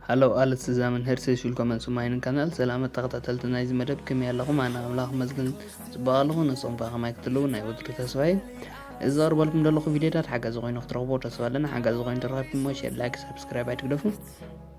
ሃለው ኣለ ትዛምን ሄርሰይስ ዊልኮመን ሱማይንን ካናል ሰላመት ተኸታተልቲ ናይዚ መደብ ከመይ ኣለኹም ኣነ ኣምላኽ መስግን ፅቡቅ ኣለኹ ንስኹም ከዓ ከማይ ክትልው ናይ ወትሩ ተስፋ እዩ እዚ ዘቕርበልኩም ዘለኹ ቪድዮታት ሓጋዚ ኮይኑ ክትረኽቦ ተስፋ ኣለና ሓጋዚ ኮይኑ ተረኺብኩሞ ሸር ላይክ ሳብስክራይብ ኣይትግደፉ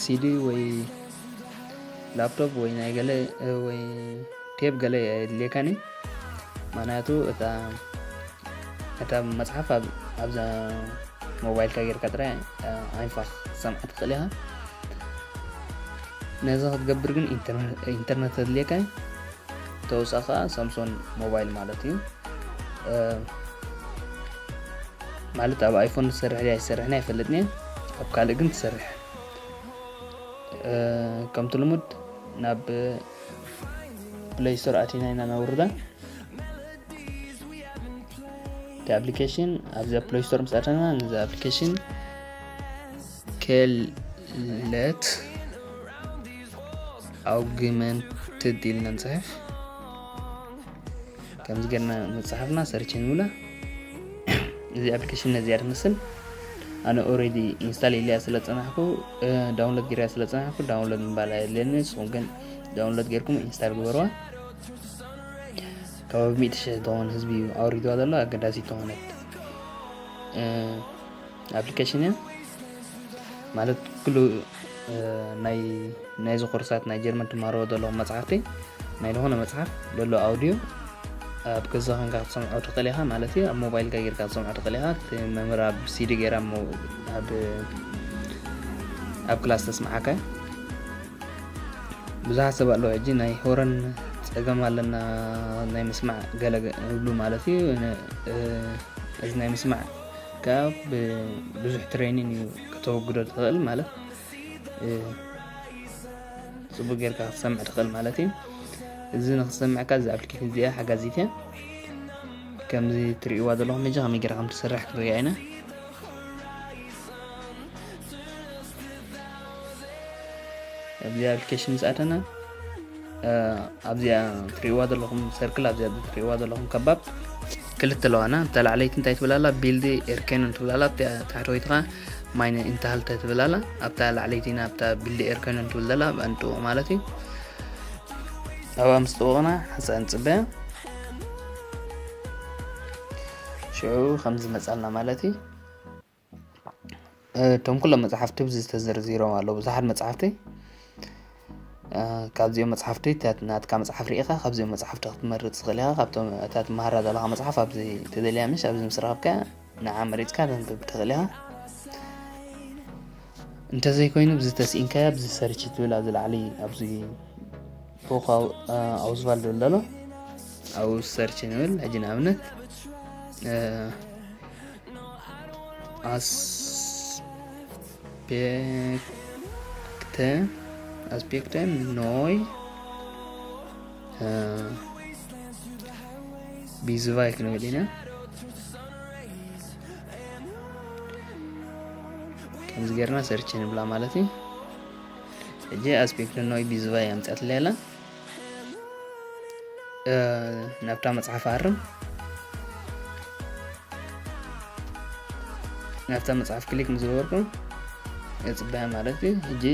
ሲዲ ወይ ላፕቶፕ ወይ ናይ ገለ ወይ ቴብ ገለ የድልየካኒ ምክንያቱ እታ መፅሓፍ ኣብዛ ሞባይልካ ጌርካ ጥራይ ዓይንፋ ክትሰምዓ ትኽእል ኢኻ ነዚ ክትገብር ግን ኢንተርነት ኣድልየካ እዩ ተወሳኺ ከዓ ሳምሶን ሞባይል ማለት እዩ ማለት ኣብ ኣይፎን ዝሰርሕ ኣይሰርሕን ኣይፈልጥን እየ ኣብ ካልእ ግን ትሰርሕ ከምቲ ልሙድ ናብ ፕለይ ስቶር ኣቲና ኢና ነውርዳ እቲ ኣፕሊኬሽን ኣብዚ ኣብ ፕለይ ስቶር ምስ ኣተና ነዚ ኣፕሊኬሽን ከለት ኣውግመንትድ ኢልና ንፅሕፍ ከምዚ ገርና ምጽሓፍና ሰርች ንብላ እዚ ኣፕሊኬሽን ነዚኣ ትመስል ኣነ ኦሬዲ ኢንስታል ኢለያ ስለ ዝፀናሕኩ ዳውንሎድ ገይረያ ስለ ዝፀናሕኩ ዳውንሎድ ምባል ኣየድልየኒ ንስኹም ግን ዳውንሎድ ገይርኩም ኢንስታል ግበርዋ ካብ ሚእቲ ሽሕ ዝኾን ህዝቢ ኣውሪድዋ ዘሎ ኣገዳሲት ዝኾነት ኣፕሊኬሽን እያ ማለት ኩሉ ናይ ናይዚ ኮርሳት ናይ ጀርመን ትማሃርዎ ዘለኹም መፅሓፍቲ ናይ ዝኾነ መፅሓፍ ዘሎ ኣውድዮ ኣብ ገዛ ኮንካ ክትሰምዖ ትኽእል ኢኻ ማለት እዩ ኣብ ሞባይልካ ጌርካ ክትሰምዖ ትኽእል ኢኻ እቲ መምህር ኣብ ሲዲ ጌራ ኣብ ክላስ ተስምዓካ ብዙሓት ሰብ ኣለዉ ሕጂ ናይ ሆረን ፀገም ኣለና ናይ ምስማዕ ገለ ይብሉ ማለት እዩ እዚ ናይ ምስማዕ ከኣ ብብዙሕ ትሬኒን እዩ ከተወግዶ ትኽእል ማለት ጽቡቅ ጌርካ ክትሰምዕ ትኽእል ማለት እዩ እዚ ንክትሰምዕካ እዚ ኣፕሊኬሽን እዚኣ ሓጋዚት እያ ከምዚ ትርእይዋ ዘለኹም ሕጂ ከመይ ጌራ ከም ትሰርሕ ክንሪኣ ኢና ኣብዚ ኣፕሊኬሽን ምስ ኣተና ኣብዚኣ ትሪእዋ ዘለኹም ሰርክል ኣብዚኣ ትሪእዋ ዘለኹም ከባብ ክልተ ኣለዋና እታ ላዕለይቲ እንታይ ትብል ኣላ ቢልዲ ኤርከንን ትብል ኣላ ኣብቲ ታሕተወይቲ ከዓ ማይነ ኢንታሃልተ ትብል ኣላ ኣብታ ላዕለይቲ ኢና ኣብታ ቢልዲ ኤርከንን ትብል ዘላ ኣብኣ ንጥውቕ ማለት እዩ ኣብኣ ምስ ጥውቕና ሓንሳእ ንፅበያ ሽዑ ከም ዝመፃልና ማለት እዩ እቶም ኩሎም መጻሕፍቲ ኣብዚ ተዘርዚሮም ኣለዉ። ብዙሓት መጻሕፍቲ ካብዚኦም መጻሕፍቲ ናትካ መጽሓፍ ርኢኻ ካብዚኦም መጻሕፍቲ ክትመርጽ ትኽእል ኢኻ። ካብቶም እታ ትመሃራ ዘለኻ መጽሓፍ ኣብዚ ተደልያ ምሽ ኣብዚ ምስ ረኸብካያ ንዓ መሪጽካ ተንብብ ትኽእል ኢኻ። እንተዘይኮይኑ ብዚ ተስኢንካያ ብዚ ሰርች ትብል ኣብዚ ላዕሊ ኣብዚ ፎክ ኣውዝባል ዝብል ዘሎ ኣብ ሰርች ንብል ሕጂ ንኣብነት ኣስፔክተ ኣስፔክተ ኖይ ቢዝቫይ ክንብል ኢና ከምዚ ጌርና ሰርች ንብላ ማለት እዩ ሕጂ ኣስፔክት ኖይ ቢዝባይ ኣምፅኣትለይ ኣላ ናብታ መፅሓፍ ኣርም ናብታ መፅሓፍ ክሊክ ምስ ገበርኩ የፅበያ ማለት እዩ ሕጂ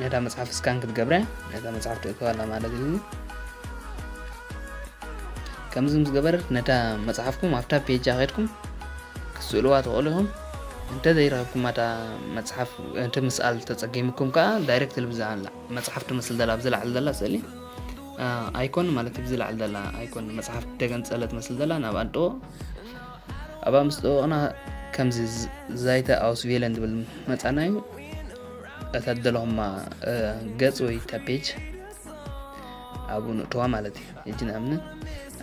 ነታ መፅሓፍ ስካን ክትገብርያ ነታ መፅሓፍ ትእክባላ ማለት እዩ ከምዚ ምስ ገበረት ነታ መፅሓፍኩም ኣብታ ፔጃ ከድኩም ክትስእልዋ ትኽእሉ ኢኹም እንተ ዘይረኽብኩማ እታ መጽሓፍ እቲ ምስኣል ተጸጊምኩም ከኣ ዳይረክትሊ ብዛላ መጽሓፍ ትመስል ዘላ ኣብዚ ላዕሊ ዘላ ስእሊ ኣይኮን ማለት ብዚ ላዕሊ ዘላ ኣይኮን መጽሓፍ ተገንጸለ ትመስል ዘላ ናብ ኣንጥዎ ኣብኣ ምስ ጠወቕና ከምዚ ዛይተ ኣውስቬለን ዝብል መፃና እዩ እታ ደለኹማ ገፅ ወይ እታ ፔጅ ኣብኡ ንእተዋ ማለት እዩ ሕጂ ንኣብነት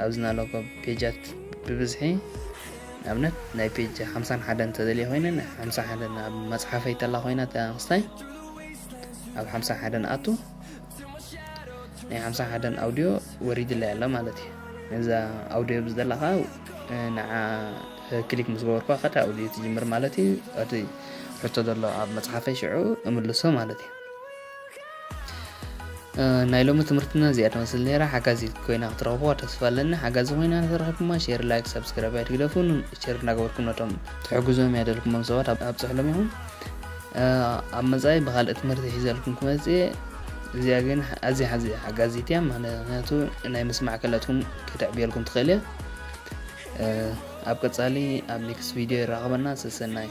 ኣብዚ ናለኮ ፔጃት ብብዝሒ ንኣብነት ናይ ፔጅ ሓምሳን ሓደን ተደልየ ኮይነ ናይ ሓምሳ ሓደን ኣብ መፅሓፈይ ተላ ኮይና ተንክስታይ ኣብ ሓምሳ ሓደን ኣቱ ናይ ሓምሳ ሓደን ኣውድዮ ወሪድለይ ኣሎ ማለት እዩ ነዛ ኣውድዮ ብዝደላ ከዓ ንዓ ክሊክ ምስ ገበርኳ ከዳ ኣውድዮ ትጅምር ማለት እዩ እቲ ሕቶ ዘሎ ኣብ መፅሓፈይ ሽዑ እምልሶ ማለት እዩ ናይ ሎሚ ትምህርትና እዚኣ ትመስል ነይራ ሓጋዚት ኮይና ክትረኽብዋ ተስፋ ኣለኒ ሓጋዚ ኮይና ንተረኺብኩማ ሼር ላይክ ሰብስክራይብ ኣይትግደፉን ሼር እናገበርኩም ነቶም ትሕግዞም እያ ደልኩሞም ሰባት ኣብፅሕሎም ኢኹም ኣብ መፃኢ ብካልእ ትምህርቲ ሒዘልኩም ክመፅእ እየ እዚኣ ግን ኣዝያ ሓዚ ሓጋዚት እያ ምክንያቱ ናይ ምስማዕ ክእለትኩም ከተዕብየልኩም ትኽእል እያ ኣብ ቀፃሊ ኣብ ኔክስት ቪድዮ ይራኸበና ሰሰናይ